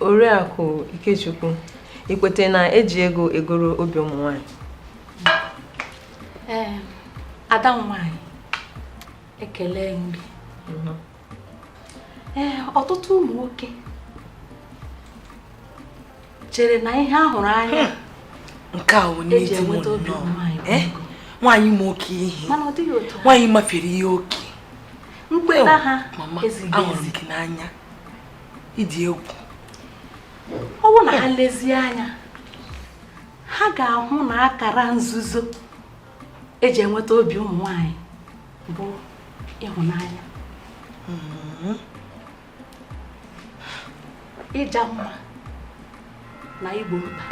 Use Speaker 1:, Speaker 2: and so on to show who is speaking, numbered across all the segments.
Speaker 1: Oriakụ Ikechukwu i kweta na eji ego egoro obi ụmụ nwanyị ee ada nwanyị ekele mgbe mhm. ee ọtụtụ ụmụ nwoke chere na ihe a hụrụ anya hmm. nke a onye dị m nnọọ eh? nwaanyị ma oke ihe nwaanyị mafere ihe oke mkpeta ha ahụrụ gị n'anya ị dị egwu ọ bụrụ na ha lezie anya ha ga-ahụ na akara nzuzo eji enweta obi ụmụ nwanyị bụ ịhụnanya hmm. ịja mma na igbo mkpa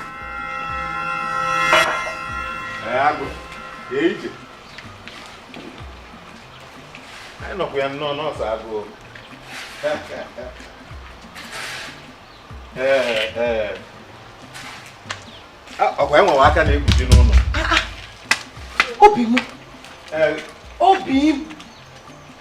Speaker 1: anyị nọkwa ya nnọọ nọọsụ agụụ ọkwa enwewe aka na-ekpuchi n'ụlọ obi m obi m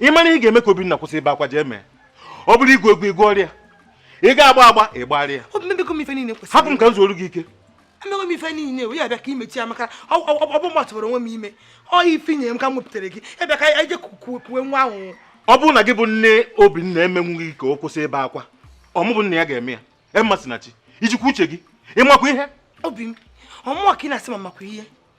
Speaker 1: ị mara ihe ga-eme ka Obinna kwụsị ibe akwa jee mee ọ bụrụ igwu egwu i gwuorịa ị ga-agba agba ị gbarịa hapụ m ka m zuoru gị ike emego m ife niile wee ya bịa ka imechi ya maka ọ bụ m tụbara onwe m ime ọ ifinye m ka m wepụtara gị ebe ka anyị je kuwe nwa ahụhụ ọ bụrụ na gị bụ nne Obinna emenwughị ka ọ kwụsị ibe akwa ọ mụ bụ nna ya ga-eme ya Mmasinachi i jikwa uche gị ị makwa ihe obi m ọ mụwa ka ị na-asị ma m makwa ihe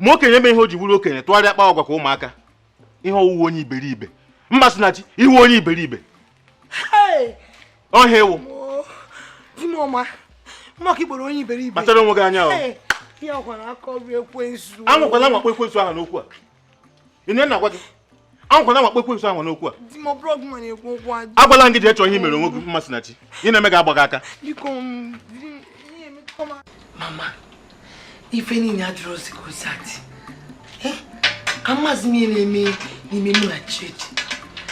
Speaker 1: ma okenye eme ihe o ji bụrụ okenye tụgharịa akpa agwa ka ụmụaka ihe ọ wụ wụ onye iberibe Mmasinachi ị wụ onye iberibe ọ ihe ị wụ kpachara onwe gị anya ahụ anwakwala anwa kpọọ ekwensu aha n'okwu a ihe m na-agwa gị anwakwana anwa kpọọ ekwensu aha n'okwu a agwala m gị jee chọọ ihe mere onwe gị Mmasinachi ihe na-eme gị agba gị aka mama ife niile adịrọzi ka o si adị eh, amazi m ihe na-eme mụ na Chidi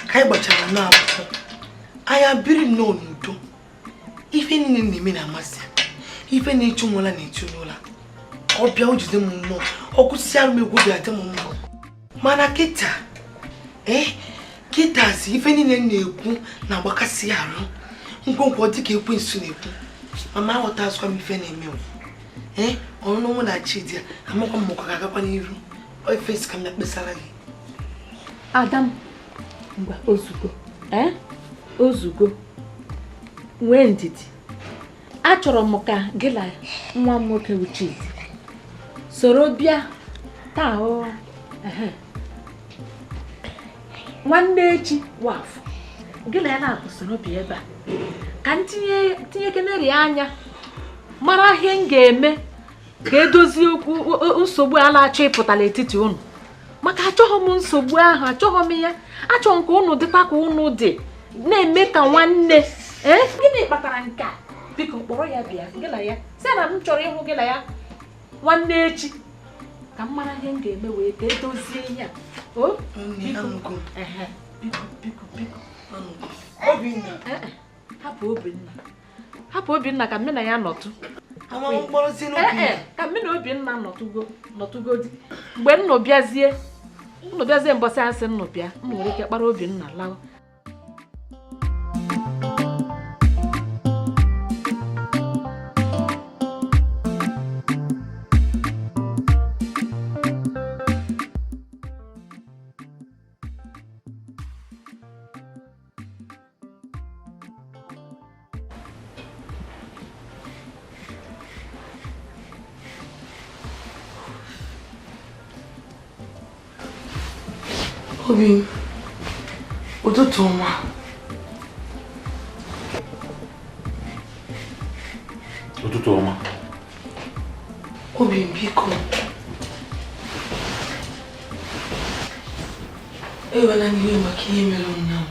Speaker 1: ka anyị gbachara akwụkwọ anyị biri nnọọ n'udo ife niile m na-eme na-amasị ya ife na-echu nwụla na-echu n'ụla ọ bịa o jide m mmụọ ọ kwụsịsị arụ m egwu bịa dị m mma mana kịta ee eh, kịtazi ife niile m na-ekwu na-agbakasị ya arụ m kwuo okwu ọ dịka ekwensu na-ekwu mama aghọtazikwa m ife na-eme ee eh, ọnụnụ mụ na Chidi a amakwa m ma ọ ga-agakwa n'iru ife m sị ka m bịa kpesara gị ada m ngwa ozugbo ee ozugbo nwee ndidi achọrọ m ka gị na nwa m nwoke Uchidi soro bịa taa o ehe. nwanne echi wụ Afọ gị na ya naabọ soro bịa ebe a ka m tinyekeneri anya mara ihe m ga-eme ka e dozie okwu nsogbu a na-achọ ịpụta n'etiti unu maka achọghị m nsogbu ahụ achọghị m ya achọghị m ka unu dịkwa ka unu dị na-eme ka nwanne ee gịnị kpatara nke a biko kpọrọ ya bịa gị na ya sị na m chọrọ ịhụ gị na ya nwanne echi ka m mara ihe m ga-eme wee ka e dozie ihe a o biko biko biko biko Obinna. Eh, eh. Hapụ Obinna. hapụ Obinna ka mụ na ya nọtụ ka mụ na Obinna nọtụgo nọtụgodi mgbe unu bịazie unu bịazie mbọsị a sị unu bịa unu nwere ike kpọrọ Obinna lawa Obi, ụtụtụ ọma. Ụtụtụ ọma. Obi, biko. Ewena iwe maka ihe mere ụnyaahụ.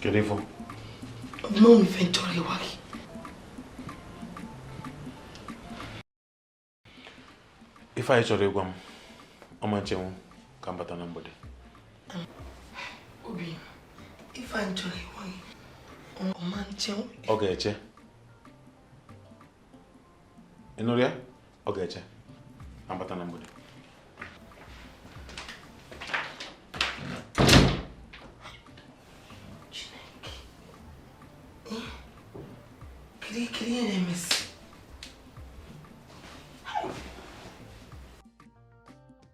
Speaker 1: Kedu ifo? Mma m ife m chọrọ ịgwa gị. Ife a ị chọrọ ịgwa m, ọ ma nchenwu ka m bata na mgbede. Obi, ife anyị chọrọ ịgwa gị, ọ ma nchenwu. Ọ ga-eche. ị nụrụ ya ọ ga-eche abata na mgbede kirikiri ya na-emesi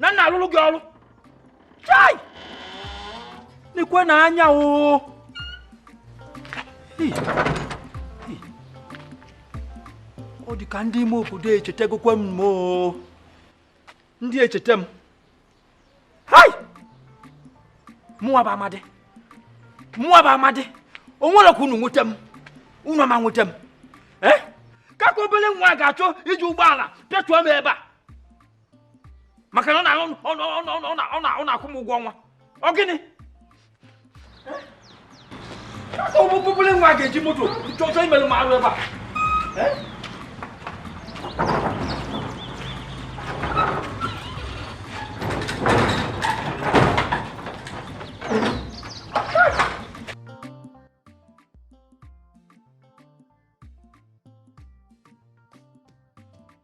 Speaker 1: na nna alụrụ gị ọrụ chai n'ikwe na anya oo ọ dị ka ndị ime obodo echetagokwa m oo ndị echete m hai mụwa bụ amadị mụwa bụ amadị o nwere ka unu nweta m unu ama nweta m ee eh? ka ka obere nwa ga-achọ iji ụgbọala pịatuo m ebe a maka na ọ na-akwụ m ụgwọ ọnwa ọ gịnị obere nwa ga-eji moto chọọ imerụ m arụ ebe a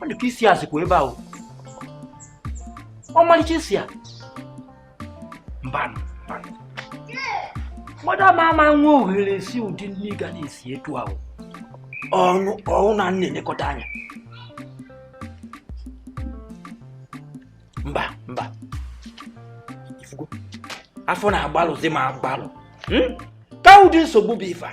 Speaker 1: ọ dị ka isi a sikwa ebe ahụ ọmalịcha isi a mbanụ mmadụ ama ama nwe ohere sie ụdị nni ga na-esi etu ahụ ọnụ ọhụ na nna elekọta anya mba mba ifugo afọ na-agbalụzi m agbalụ hmm? ka ụdị nsogbu bụ ife a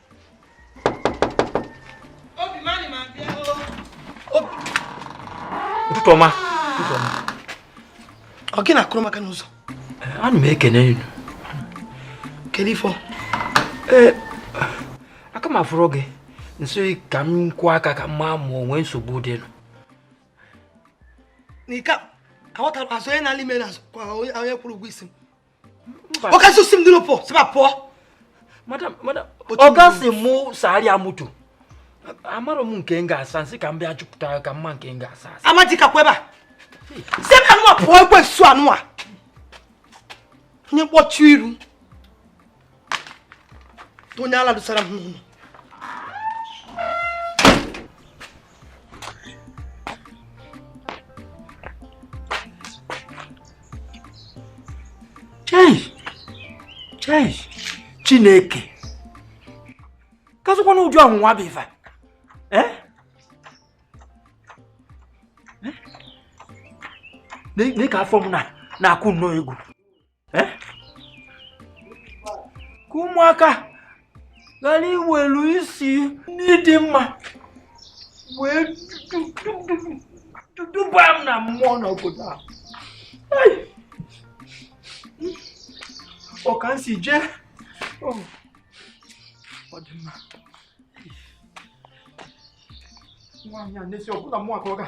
Speaker 1: ụtụtụ ọma ọ gị na-akụrụ m aka n'ụzọ ana m ekene unu kedu ifo ee aka m afụrọ gị nso ka m kụọ aka ka m maa ma o nwe nsogbu dịnụ n'ike aghọtara azụ onye na-alị ime na onye kwụrụ ụgwọ isi m ọ kasị osi m dịrị pụọ si eba pụọ ọ ga-asị mụ sagharịa moto amarọ m nke m ga-asa m sị ka m bịa chọpụta ka m maa nke m ga-asa asa amaji kakwa ebe a si m anụwa pụọ ekwe nsu anụwa onye mkpọchi iru onye ala dosara m n'ụlọ chineke kazikwanụ ụdị ọnwụnwa bụ ife a eh? nee ka afọ m na-akụ nnọọ egwu eh? ka ụmụaka ghara iwelu isi nri dị mma wee duba m na mmụọ n'obodo a ọ ka m si jee oh. ọ dị mma nwaanyị a na-esi ọbụla mụ aka ọ ga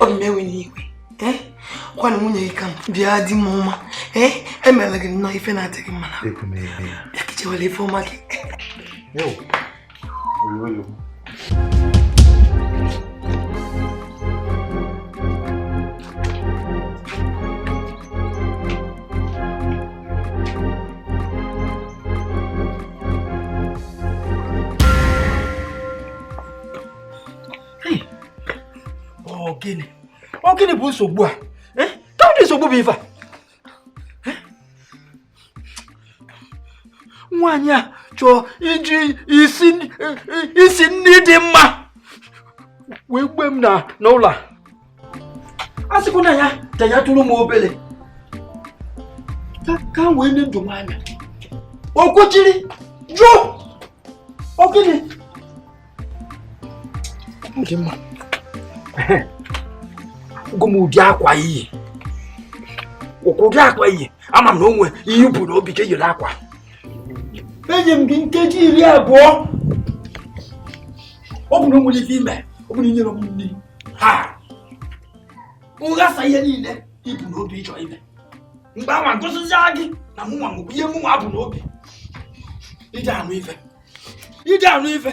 Speaker 1: ọ di m ewena iwe gwana eh? nwunye gị ka m bụ di m ọma eh? emela gị nnọọ ife na-adị gị mma na bịa kechewela ife ọma gị ọ gịnị ọ gịnị bụ nsogbu a eh? kedụ ụdị nsogbu bụ ife a eh? nwaanyị a chọọ iji isi nri dị mma wee gbue m n'ụlọ a a sịkwa na ya ka ya tụrụ m obere ka m wee nye ndụ m anya o kwechiri jụ ọ gịnị di m gwa m ụdị akwa i yi ọkwa ụdị akwa i yi ama m na o nwe ihe i bu n'obi ka i yiri akwa enye m gị nkeji iri abụọ ọ bụ na o nwere ife i me ọ bụ na i nyere m nri ha nghasa ihe niile i bu n'obi ị chọ ime mgbe anwa gosizia gị na mụnwa mụbụ ihe mụnwa bu n'obi i je-anụ ife i je-anụ ife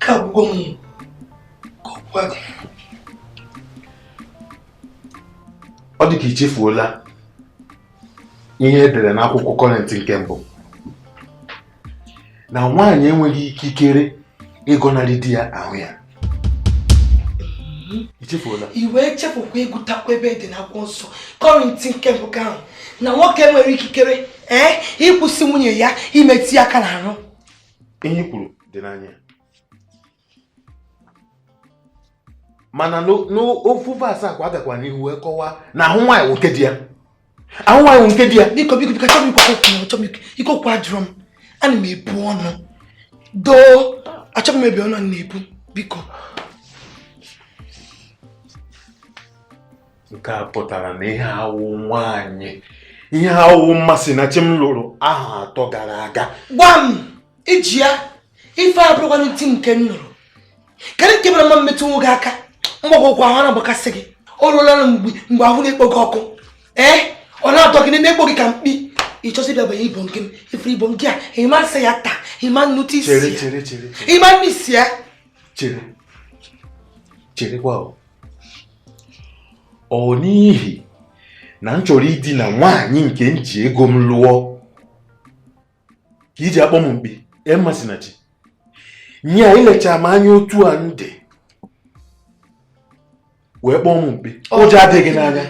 Speaker 1: ike agwụgo m ka m gwa gị ọ dị ka i chefuola ihe e dere n'akwụkwọ Kọrịnt nke mbụ na nwaanyị enweghị ikikere ịgọnarị di ya ahụ ya i chefuola i wee chefukwa ịgụtakwa ebe dị n'akwụkwọ nsọ Kọrịnt nke mbụ ka ahụ na nwoke enweghị ikikere ee ịkwụsị nwunye ya imetụ ya aka n'ahụ ihe i kwuru dị na ya mana n'o- n'ofu verse ahụkwa a gakwa n'ihu wee kọwaa na ahụ nwaanyị wụ nke di ya ahụ nwaanyị wụ nke di ya biko biko biko achọghị m ikwu okwu na achọghị m ikwu- ike okwu ajụrụ m ana m ebu ọnụ doo achọghị m imebi ọnụ a na-ebu biko nke a pụtara na ihe awụ nwaanyị ihe awụ Mmasinachi m lụrụ ahọ atọ gara aga gwa m iji ya ife abụrụkwanụ ti nke m lụrụ kedu nke mere ma m metụ nwoke aka mgbagwo ụkwụ ahụ na-agbakasị gị ọ rụọla mgbe mgbe ahụ na-ekpo gị ọkụ ee ọ na-atọ gị na-ekpo gị ka mkpi ịchọsị ịbịa banye ibom gị ifere ibom gị a ịma nsị ya taa ịma nnụtụ isi ya ịma nnụ isi ya chere cherekwa ọ n'ihi na m chọrọ idina nwaanyị nke m ji ego m lụọ ka i ji akpọ m mkpi ee Mmasinachi nye i lecha m anya otu a m dị wee kpọọ m mkpi ụjọ adịghị n'anya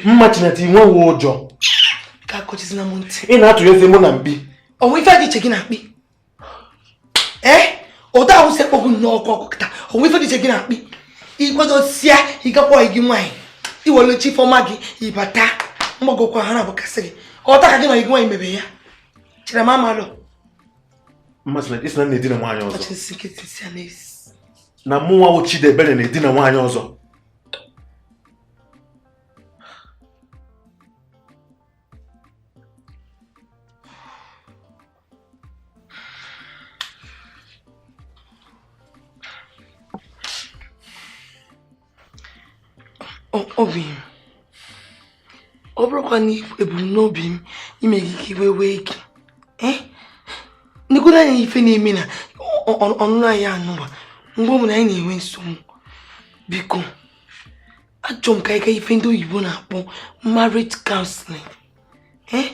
Speaker 1: Mmasinachi i nweghị ụjọ ị na-atụnyezi mụ na mkpi o nwe ife dị iche gị na mkpi ee ụdị ahụ si ekpogbu nnọọ ọkụ ọkụ kịta o nwe ife dị iche gị na mkpi igwedosia ịgakwa gị nwaanyị iwere chi fọma gị ịbata mgbagokwa ahụ na-agbakasị gị ọta ka gị na gị nwaanyị mebe ya chere ma amalụ na mụnwa wụ Chidebere na-edina nwaanyị ọzọ obi m ọ bụrọkwa na ebumnobi m ime gị ka iwe wee gị eh? negodu anya ife na-eme na ọnụnụ anyị a nụwa mgbe ọbụla anyị na-enwe nsogbu biko achọrọ m ka anyị gaa ife ndị oyibo na-akpọ marriage counseling eh,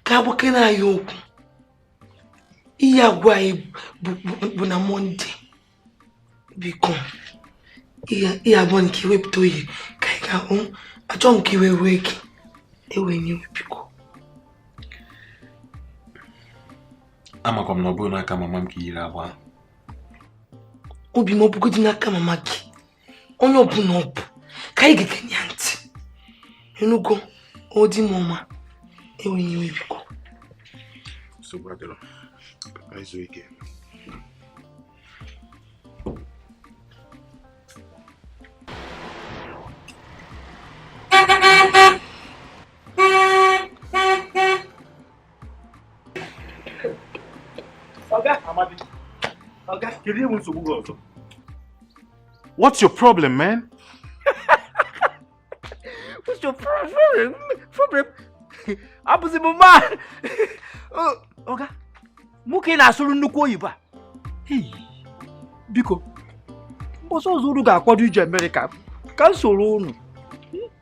Speaker 1: ka a gwakene anyị okwu ihe a gwa anyị bụ na mọnde biko ihe a bụ ka i wepụta oge ka anyị gaa achọ m ka iwe wee gị ewene iwe biko amakwa m na ọ bụghị n'aka mama m ka i yiri agba obi m ọ bụgodị n'aka mama gị onye ọbụla ọ bụ ka anyị ga-egenye ya ntị ị nụgo obi m ọma enweghị iwe biko Oga Amadi, Oga, kedu ihe nsogbu gị ọzọ? What's your problem, man? What's your problem? Problem? Ọ bụzi mmụ, Oga, mụ ka ị na-asụrụ nnukwu oyibo a. Biko, mbọsị ọzọ unu ga-akwado ije Amerịka ka m soro unu.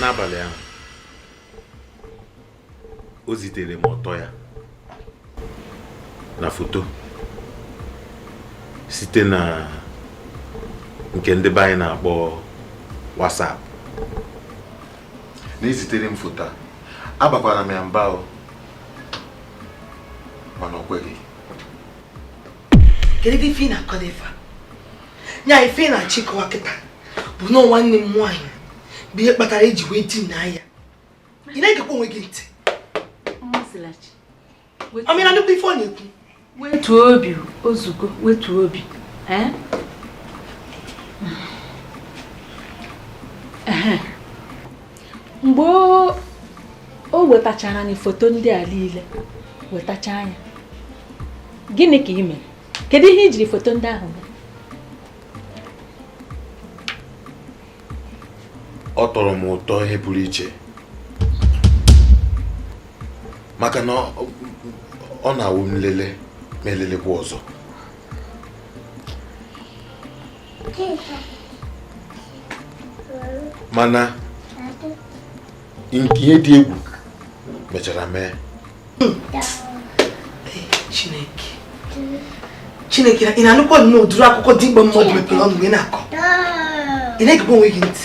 Speaker 1: n'abalị ahụ o zitere m ọtọ ya na foto site na nke ndị be anyị na-akpọ WhatsApp na-ezitere m foto a abakwara m ya mba o mana o kweghị kedu ife ị na-akọ dị ife a ya ife ị na-achọ ịkọwa kịta bụ na nwanne m nwaanyị bụ ihe kpatara i ji wee dinaa ya ị na-egekwa onwe gị ntị ọmịra ị na-anụkwa ife ọ na-ekwu wetuo obi o zugo wetuo obi mgbe o wetachara anyị foto ndị a niile wetacha anya gịnị ka i mere kedu ihe i jiri foto ndị ahụ mee ọ tọrọ m ụtọ ihe pụrụ iche maka na ọ na-awụ m lele m elelekwa ọzọ mana nke ihe dị egwu mechara mee Chineke Chineke ị na-anụkwa nnọọ ụdịrị akụkọ dimkpa mmadụ mepere ọnụ mgbe ị na-akọ ị na-egekwa onwe gị ntị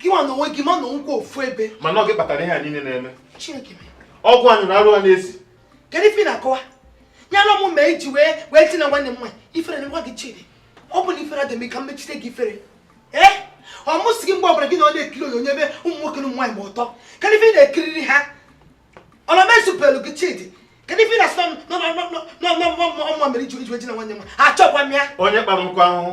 Speaker 1: gị nwa na onwe gị ma na o nwe ofu ebe mana ọ gị kpatara ihe a niile na-eme ọ gị nyụrụ arụ a na-esi kedu ife ị na-akọwa ya na ọ mụ mere i ji wee wee dinaa nwanne m nwaanyị ifere na nwa gị chidi ọ bụ na ifere adị m ka m mechite gị ifere ee ọ mụ sị gị mgbe ọbụla gị na ọ na-ekiri onyonyo ebe ụmụ nwoke na ụmụ nwaanyị gba ọtọ kedu ife ị na-ekiriri ha ọ na mezupelu gị chidi kedu ife na-asị na ọ mụwa mere i ji dinaa nwanne m achọkwa m ya onye kpara nkụ ahụhụ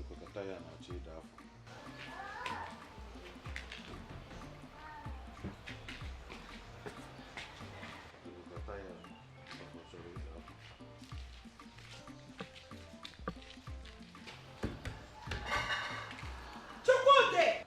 Speaker 1: Ịkpọkọta ya na-achọ ịda afọ. Ịkpọkọta ya afọ chọrọ ịda afọ. Chukwude!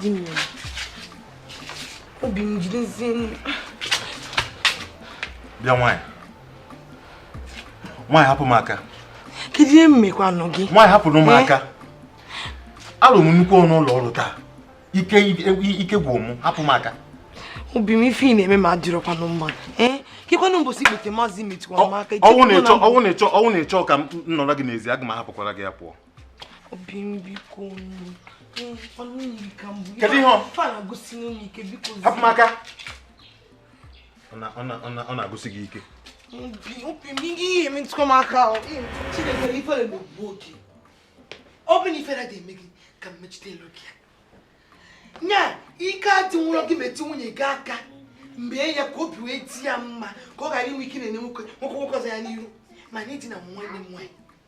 Speaker 1: di m obi m jidezie bịa nwaanyị nwaanyị hapụ m aka kedu ihe m mekwanụ gị nwaanyị hapụrụ m aka alụ m nnukwu ọrụ n'ụlọ ọrụ taa ike ike gwụ m hapụ m aka obi m ife ị na-eme m adịrọkwanụ mma kekwanụ mbọsị ikpeazụ ị metụkwara m aka ọ bụrụ na ị chọọ ka m nọrọ gị n'ezi aga m ahapụkwara gị ya pụọ kedu ihe hapụ m aka ọ na-agụsi gị ike obi m ihe emetụkwa m aka ahụ chineke ifere megbuo gị ọ bụ na ifere ga-eme gị ka mmechite ele gị anya ike adịrọ gị metụ nwunye gị aka mgbe ya ka obi wee dị ya mma ka ọ ghara inwe ike na-ene nwoke nwoke nwoke ọzọ anya n'iru ma na idina nwanne m nwaanyị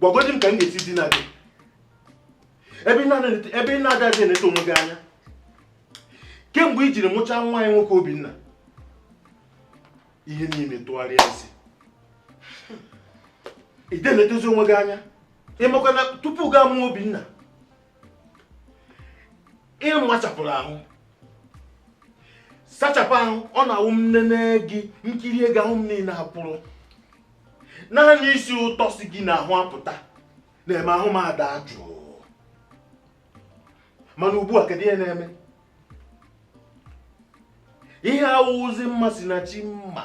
Speaker 1: gwagodi m ka m ga-esi dina gị ebe ị na-adịghị eneta onwe gị anya kemgbe i jiri mụchaa nwa anyị nwoke Obinna ihe niile tụgharịa isi ị dịghị enetezi onwe gị anya ị makwa na tupu gị amụọ Obinna ị machapụrụ ahụ sachapụ ahụ ọ na-awụ m nene gị m kirie gị ahụ m niile akwụrụ naanị isi ụtọ si gị n'ahụ apụta na-eme ahụ m ada jụụ mana ugbu a kedu ihe na-eme ihe awụzi Mmasinachi m ma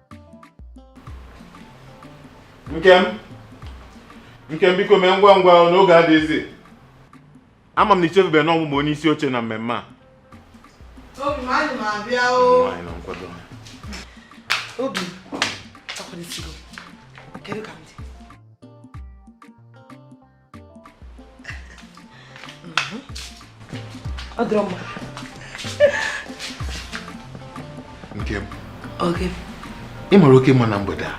Speaker 1: Nkem Nkem biko mee ngwa ngwa na oge adịghịzi ama m na i chefubeghị na ọ mụ bụ onye isi oche na mmemme a Obi m ana m abịa o. Nwaanyị na nkwado. Obi, akwadosigo m. Kedu ka m dị? ọ dịrọ mma Nkem o ị mara oke mma na mgbede a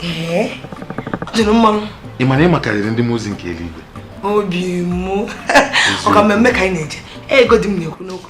Speaker 1: ee ọ dịrị mmanụ ị ma na ị makarịrị ndị mozi nke eluigwe obi m ọ kwa mmemme ka anyị na-eje legodi m na-ekwu n'okwu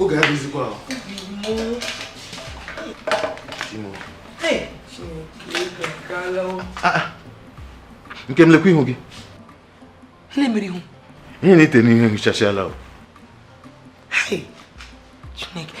Speaker 1: oge adịghịzikwa ahụ ah, ah. Nkem lekwa ihu gị ihe ị na-ete n'ihu ehichasịala Chineke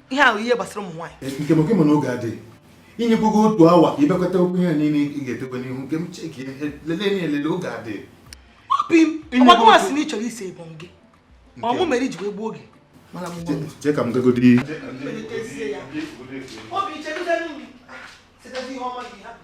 Speaker 1: ihe ahụ ihe gbasara ụmụ nwaanyị eh, nke maka mana oge adịghị inyekwago otu awa ka ibekwata okwu ihe niile ị ga-etekwa n'ihu nke m cheki lelee na elele oge adịghị obi m ọgbakọmasị na ị chọrọ ịsị ịbụ gị ọ mụ mere i ji wee gbuo oge jee ka m gagodi obi chegide nri site ihe ọma gị hapụ